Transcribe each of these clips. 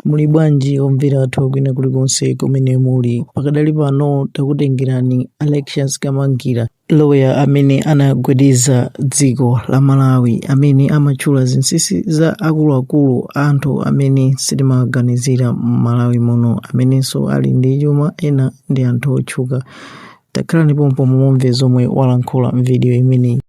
Muli bwanji omvera athu kwina kulikonse kumene muli? Pakadali pano takutengerani Alexious Kamangira, lawyer amene anagwedeza dziko la Malawi, amene amatchula zinsinsi za akuluakulu anthu amene sitimaganizira m'Malawi muno, amenenso ali ndi chuma, ena ndi anthu otchuka. Takhalani pompo mumve zomwe walankhula m'vidiyo imeneyi.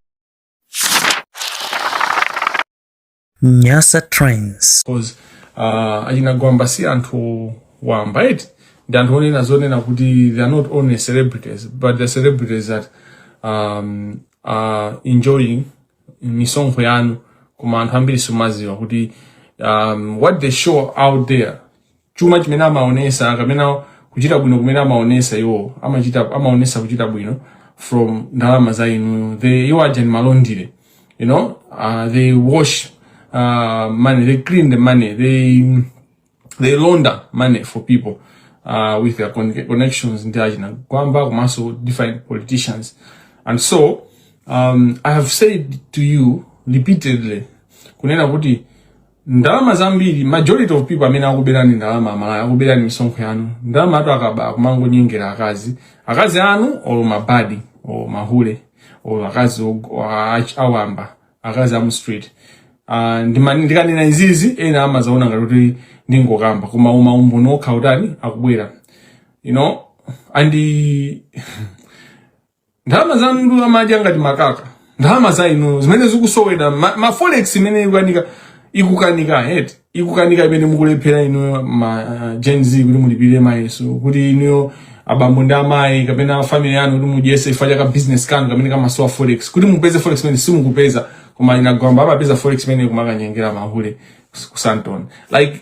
Nyasa Trends. cause uh, achina Gwamba si anthu wamba eti ndi anthu onena zonena kuti they are not only celebrities but the celebrities that um, are enjoying misonkho yanu koma anthu ambiri simaziwa kuti um, what they show out there chuma chimene amaonesa kapena kuchita bwino kumene amaonesa iwo amachita amaonesa kuchita bwino from ndalama za inuyo they iwo aja ni ma laundry you know uh, they wash uh, money they clean the money they they launder money for people uh, with their con- connections ndi achina Gwamba komanso different politicians and so um, i have said to you repeatedly kunena kuti ndalama zambiri majority of people amene akuberani ndalama aMalawi akuberani misonkho yanu ndalama anthu akaba kumangonyengera akazi akazi anu or ma baddie or mahule or akazi awamba akazi amu street ah, ndikanena izizi ena amazaona ngati kuti ndingokamba koma uma umboni okha utani akubwera you know and ndalama zanu ndi amadya ngati makaka ndalama za inu zimene zikusowedwa ma, ma forex imene ikukanika ikukanika head ikukanika imene mukulephera inu ma uh, Gen Z kuti mulipire mayeso kuti inuyo abambo ndi amayi kapena family yanu kuti mudyese ifa chaka business kanu kamene kamasowa forex kuti mupeze forex imene simukupeza koma achina Gwamba amapeza forex imene kumakanyengera mahule ku Sandton like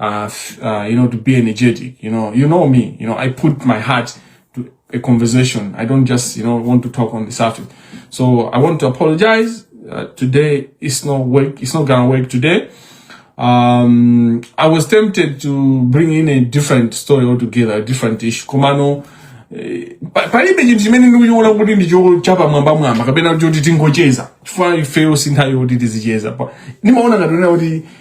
uh, uh, you know, to be energetic. You know, you know me. You know, I put my heart to a conversation. I don't just, you know, want to talk on the surface. So I want to apologize. Uh, today it's not work. It's not gonna work today. Um, I was tempted to bring in a different story altogether, a different issue. Komano, eh, palibe chinthu chimene ndikuchiona kuti ndicho chapamwambamwamba kapena choti tingocheza chifukwa ifeyo sinthawi yoti tizicheza ndimaona ngati kuti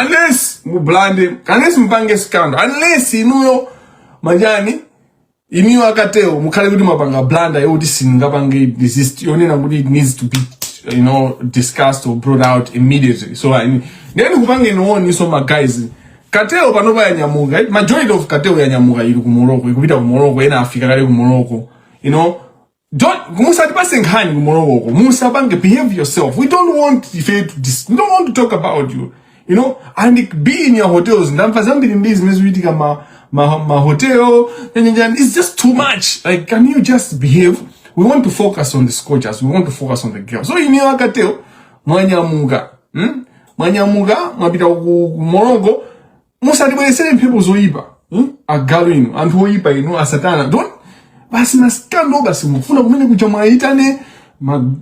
unless mublande unless mupange scandal unless inuyo manjani inuyo a cartel mukhale kuti mwapanga blunder yoti singapange desist yonena kuti it needs to be you know discussed or brought out immediately so I, ndeni kupange niwoni so ma guys cartel panopa yanyamuka majority of cartel yanyamuka ili ku morocco ikupita ku morocco ena afika kale ku morocco you know don't musatipase nkhani kumolowoko musapange behave yourself we don't want ife to dis- we don't want to talk about you you know and be in your hotels ndamva zambiri mbiri zimene zikuchitika ma ma, ma hotel and, and, and it's just too much like can you just behave we want to focus on the scorchers we want to focus on the girls so ineyo akateo mwanyamuka hmm? mwanyamuka mwapita ku ku Morocco musatibweretsere mphepo zoyipa hmm? agalu inu anthu oyipa inu asatana don't basi masikando basi mukufuna kumene kucha mwayitane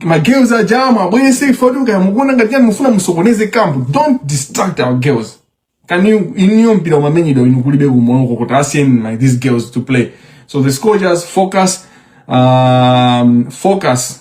magirls aja mwabwerese kuti kaya mukuona ngati yani mufuna musokoneze kampu don't distract our girls kani inuyo mpira umamenyedwa inu kulibe ku Morocco kuti asiyeni let these girls to play so the scorchers focus um, focus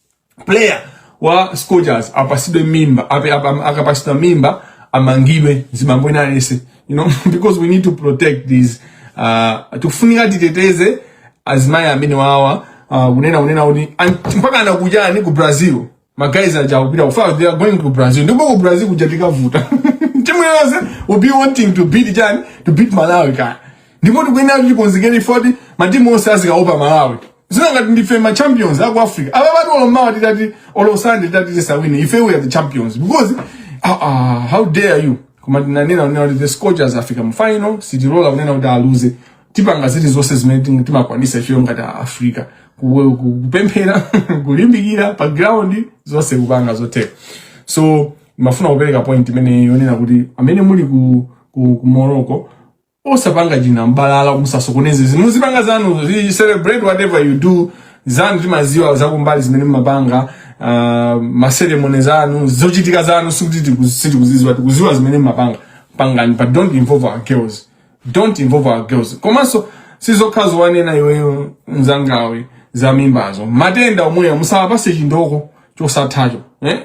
player wa Scorchers apasidwe mimba akapasidwa mimba amangidwe zibambo wina alese you know because we need to protect these uh, tufunika titeteze azimai amene awa uh, kunena kunena kuti mpaka anakujani ku Brazil magayizi aja akupita kuja they are going to Brazil ndipo ku Brazil kuja zikavuta timu yonse will be wanting to beat yani to beat Malawi kaya ndipo tikuyenera kuti tikonzekere chifukwa kuti matimu onse azikaopa malawi zili ngati ndife ma champions aku africa apapa tu olo mmawa titati olo sande titati tisawine ife we are the champions because uh, uh, how dare you koma tinanena kunena kuti the scorchers afika mu final sitilola kunena kuti aluze tipanga ziti zonse zimene ting- timakwanisa ifeyo ngati a africa Ku- ku- kupemphera kulimbikira pa ground zonse kupanga zotheka so ndimafuna kupereka point imene yonena kuti amene muli ku, ku, ku morocco osapanga chinambalala musasokoneze muzipanga zanu zi- celebrate whatever you do zanu timaziwa zakumbali zimene mumapanga uh, maseremoni zanu zochitika zanu sikuti tiku- sitikuziziwa tikuziwa zimene mumapanga pangani but don't involve our girls don't involve our girls komanso si zokhazo wanena iweyo mzanga we za mimbazo matenda omweyo musawapase chindoko chosathacho eh?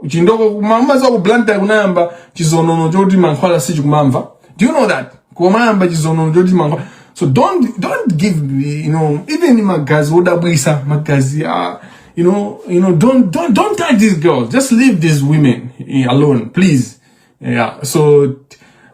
chindoko mumaziwa ku blantyre kunayamba chizonono choti mankhwala sichikumamva do you know that kumayamba chizonono choti mankhwala so don't don't give, you know even magazi odabwisa magazi uh, you know you know don't don't don't touch these girls just leave these women eh, alone please Yeah, so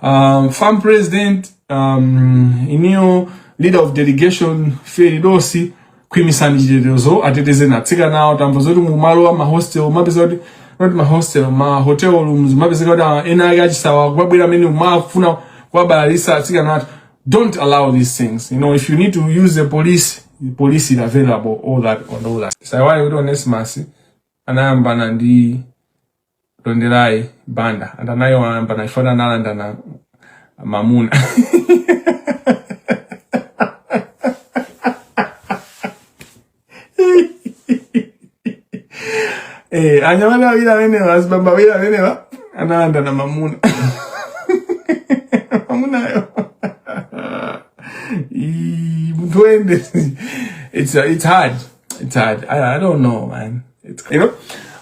um, FAM president um, inuyo leader of delegation Feridosi khwimisani chitetezo ateteze atsikanawo tamva zoti mumalowa mahostel mapezeka kuti not mahostel ma hotel rooms mapezeka kuti ah, ena ake achisawa kumabwera amene amafuna kuwabalalisa atsikanawo don't allow these things you know if you need to use the police the police is available all that on all that osaiwala kuti Onesimus anayambana ndi Tonderai Banda and anayo amba na ifana nalanda na mamuna Eh, anyamata wawili amenewa azibamba wawili amenewa analanda na mamuna mamuna yo Ii, mtu ende it's, it's hard It's hard. I, I don't know, man. It's you know.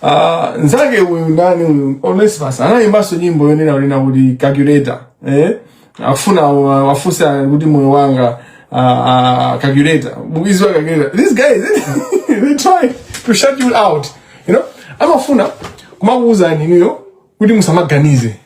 Uh, nzake uyu ndani uyu Onesimus anayimbanso nyimbo yonena kunena kuti calculator eh afuna wafunsa kuti moyo wanga uh, uh, calculator bukizi wa calculator these guys they try to shut you out you know amafuna kumakuwuzani inuyo kuti musamaganize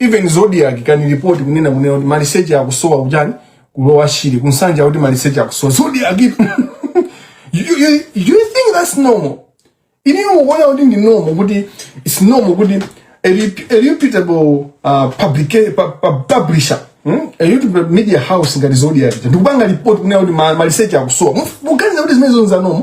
even zodiac can report kunena kunena kuti maliseche akusowa kuchani ku lower shire ku nsanje kuti maliseche akusowa zodiac you, you, you think that's normal ine ndikuona kuti ndi normal kuti it's normal kuti a, rep, a reputable uh, publica, pu, pu, publisher hmm? a reputable media house ngati zodiac ndikupanga report kunena kuti maliseche akusowa muganiza kuti zimenezo nza normal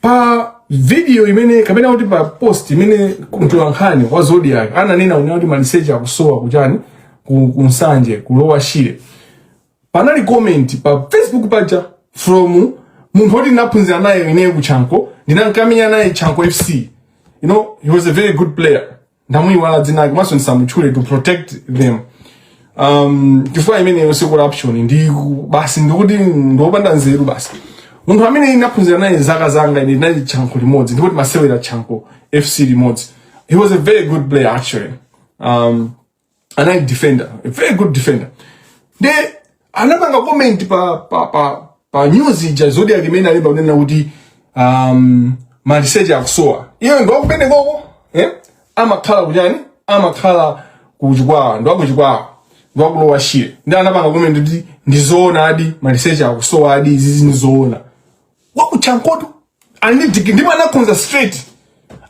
pa video imene kapena kuti pa post imene mtolankhani wa Zodiac ananena kunena kuti maliseche akusowa kuchani ku, ku Nsanje ku Lower Shire panali comment pa Facebook paja from munthu oti ndinaphunzira naye ineyo ku Chanco ndinankamenya naye Chanco FC you know he was a very good player ndamuyiwala dzina lake komanso ndisamutchule to protect them um, chifukwa imeneyo si corruption ndi basi ndikuti ndiopanda nzeru basi munthu amene ndinaphunzira naye zaka zanga ine tinali chanco limodzi ndipo timasewera chanco fc limodzi he was a very good player actually um, anali defender a very good defender nde anapanga comment pa pa pa pa news ija zodiac imene alemba kunena kuti um, maliseche akusowa iye ndi wakumeneko ko eh? amakhala kuchani amakhala kuchikwawa ndi wakuchikwawa ndi waku lower shire nde anapanga comment kuti ndizoonadi maliseche akusowadi izizi ndizoona wakuchancotu ali ndi digiri ndipo anakhonza straight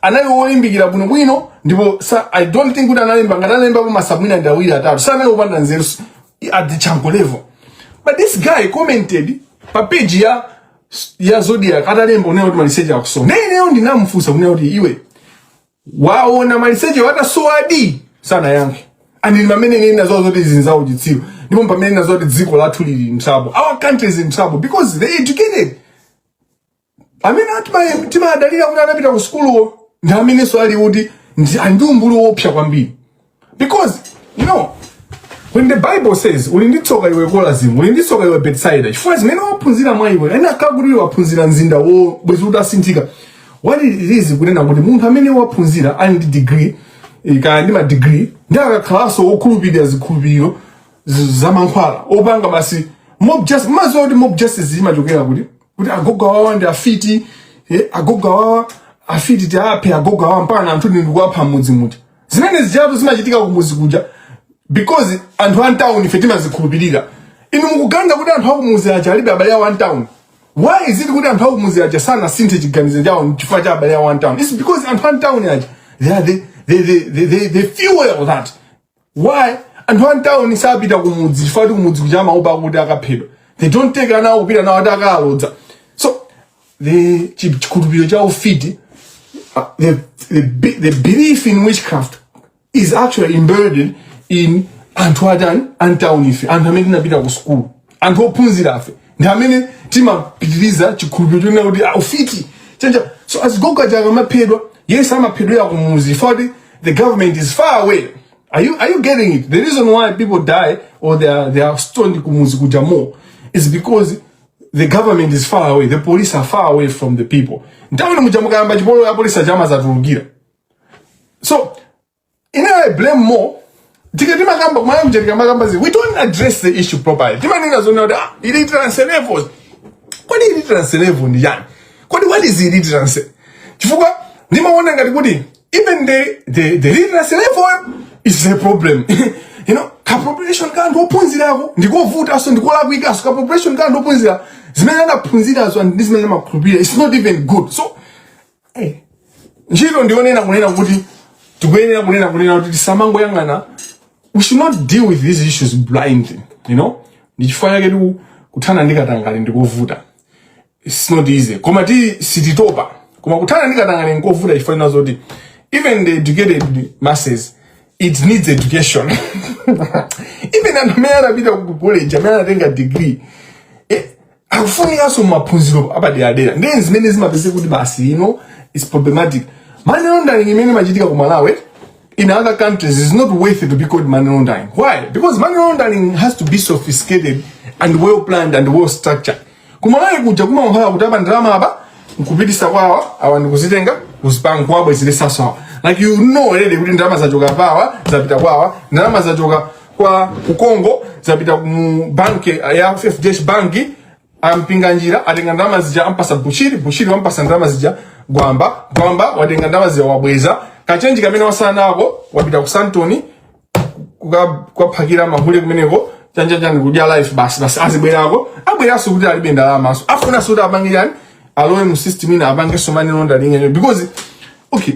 anali wolimbikira bwinobwino ndipo sa i don't think kuti analemba ngati analembapo ma supp mwina ndi awiri atatu sanali wopanda nzeru s- at the chanco level but this guy commented pa page ya ya zodiac atalemba kunena kuti maliseche akusowa ineyo ndinamufunsa kunena kuti iwe waona maliseche atasowadi sanayankhe and ndi pamene ndinadziwa zoti mnzangayu ndi chitsiru ndipo mpamene ndinadziwa zoti dziko lathu lili in trouble our country is in trouble because the educated amene tima- timadalira kuti anapita ku sukuluwo ndi amenenso ali kuti ndi ndi umbuli woopsa kwambiri because you know when the bible says uli ndi tsoka iwe korazini uli ndi tsoka iwe betsaida chifukwa zimene waphunzira mwa iwe ena akanakhala kuti aphunzira mzindawo bwezi utasinthika what it is kunena kuti munthu amene waphunzira ali ndi degree eh, kaya ndi madegree ndi amene akukhalanso wokhulupirira zikhulupiriro z- zamankhwala opanga basi mob justice madziwa kuti mob justice imachokera kuti kuti agogo awawa ndi afiti eh, agogo awawa afiti tiaphe agogo awawa mpaka anthu ndi nkuwapha m'mudzi muja zimene zijatu zimachitika kumudzi kuja because anthu a mtown ife timazikhulupirira inu mukuganiza kuti anthu akumuzi aja alibe abale awo a mtown why is it kuti anthu akumuzi aja sanasinthe chiganizo chawo chifukwa cha abale awo a mtown it's because anthu a mtown aja they are the, they, they, they, they, they fuel that why anthu a m'tawuni sapita kumudzi chifukwa ati kumudzi kuja amaopa kuti akaphedwa they don't take ana awo kupita nawo ati akalodza so the chi- chikhulupiriro cha ufiti uh, the, the, be- the belief in witchcraft is actually embedded in anthu atani antawuni ife anthu amene tinapita ku sukulu anthu ophunzira afe ndi amene timapitiriza chikhulupiriro chonena kuti ah, ufiti chanja so azigogo aja amaphedwa yes amaphedwera kumuzi foti the government is far away are you, are you getting it the reason why people die or they are, they are stoned kumuzi kuja more is because the government is far away the police are far away from the people m'tawuni muja mukayamba chipolowe apolisi aja amadzatulukira so ineyo i blame more tika timakamba ku Malawi kuja tikamakamba zi we don't address the issue properly timanena zonena kuti ah illiterance levels kodi illiterance level ndi chani kodi what is illiterance chifukwa ndimaona ngati kuti even the the the illiterance level is the problem you know ka population ka anthu ophunzirako ndikovutanso ndikolakwikaso ka population ka anthu ophunzira zimene anaphunzirazo ndi zimene amakhulupirira it's not even good so Eh, ntchito ndi yonena kunena kuti tikuyenera kunena kunena kuti tisamangoyang'ana we should not deal with these issues blindly you know ndi chifukwa chake tiku kuthana ndi katangale ndikovuta it's not easy koma ti sititopa koma kuthana ndi katangale ndikovuta chifukwa chonena zoti even the educated masses it needs education even anthu amene anapita ku college amene anatenga degree eh, akufunikanso maphunziro apaderadera ndi zimene zimapezeka kuti basi you know it's problematic money laundering imene imachitika ku malawi in other countries it's not worth it to be called money laundering why because money laundering has to be sophisticated and well planned and well structured ku malawi kuja kumakhala kuti aba ndalama apa nkupitisa kwawa awa ndikuzitenga kuzipanga kuwabwezeresaso awa like you know already kuti ndalama zachoka pawa zapita kwawa ndalama zachoka kwa Kongo zapita mu banki ya fdh banki a Mpinganjira atenga ndalama zija ampasa bushiri bushiri wampasa ndalama zija gwamba gwamba watenga ndalama zija wabweza kachenji kamene wasala nako wapita ku Sandton kuka- kukaphakira mahule kumeneko chanjachani kudya life basi basi azibwerako abweranso kuti alibe ndalamaso afunanso kuti apange chani alowe mu system ina apangenso money laundering yo because okay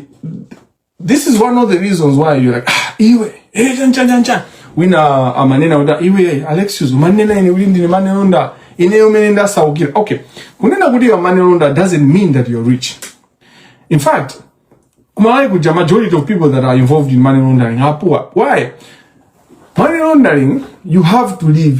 this is one of the reasons why you're like ah, iwe eh, chan chan chan chan wina amanena uda iwe Alexius umanena ine uli ndine manelonda ineyo mene ndasaukira okay kunena kuti iwe manelonda doesn't mean that you're rich in fact kumalawi kuja majority of people that are involved in money laundering are poor why money laundering you have to live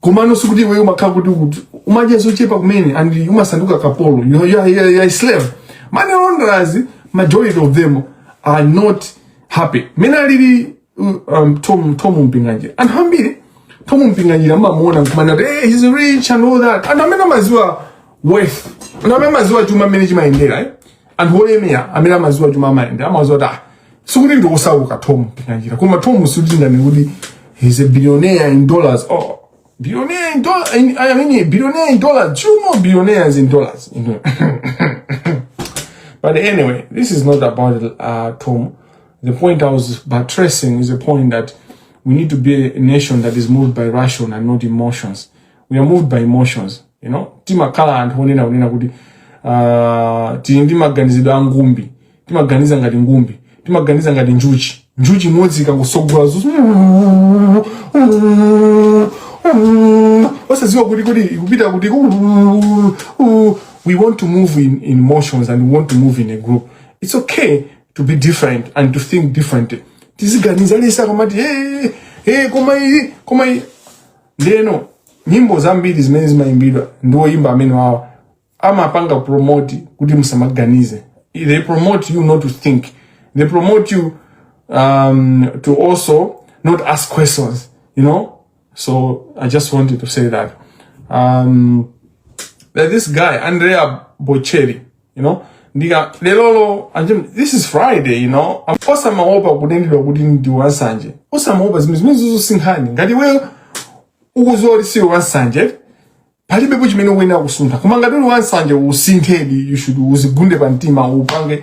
komano sikuti iweyo umakhala kuti uku- umadya zochepa kumene and umasanduka kapolo you know, you are, you are, you are a slave money launderers majority of them are not happy mene alili uh, um, tom, tom mpinganjira anthu ambiri tom mpinganjira amamuona nkumanena kuti hey, he's rich and all that anthu amene amaziwa wealth anthu amene amaziwa chuma mmene chimayendera eh? anthu olemera amene amaziwa chuma amayenda amaziwa kuti ah, sikuti ndi osauka tom tinganjira koma tom sitindani kuti he's a billionaire in dollars oh billionaire in dollars in, i mean billionaire in dollars you know billionaires in dollars you know but anyway this is not about uh, tom the point i was buttressing is the point that we need to be a nation that is moved by ration and not emotions we are moved by emotions you know timakhala anthu onena kunena kuti uh, tili ndi maganizidwe a ngumbi timaganiza ngati ngumbi timaganiza ngati njuchi njuchi imodzi ikatsogola zuzu osadziwa kuti kuti ikupita kuti we want to move in, in emotions and we want to move in a group it's okay to be different and to think differently tiziganiza lesa kamati hey, hey, koma iyi koma iyi ndeno nyimbo zambiri zimene zimayimbidwa ndi oyimba amene wawa amapanga promote kuti musamaganize they promote you not to think they promote you um, to also not ask questions you know so i just wanted to say that um, that this guy andrea bocelli you know ndika lelolo aje this is friday you know osamaopa kutengedwa kuti ndi wansanje osamaopa zimenezo zimenezo si nkhani ngati iweyo ukuziwa kuti siwe wansanje palibepo chimene ukuyenera kusuntha koma ngati uli wansanje usinthedi you should uzigunde pa mtima upange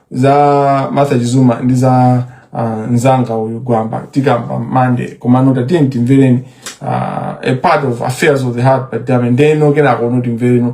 za martha chizuma ndi za uh, nzanga uyu gwamba tikamba Monday komano tatiyeni timvere uh, a part of affairs of the heart by damian ndeno kenakono timvereno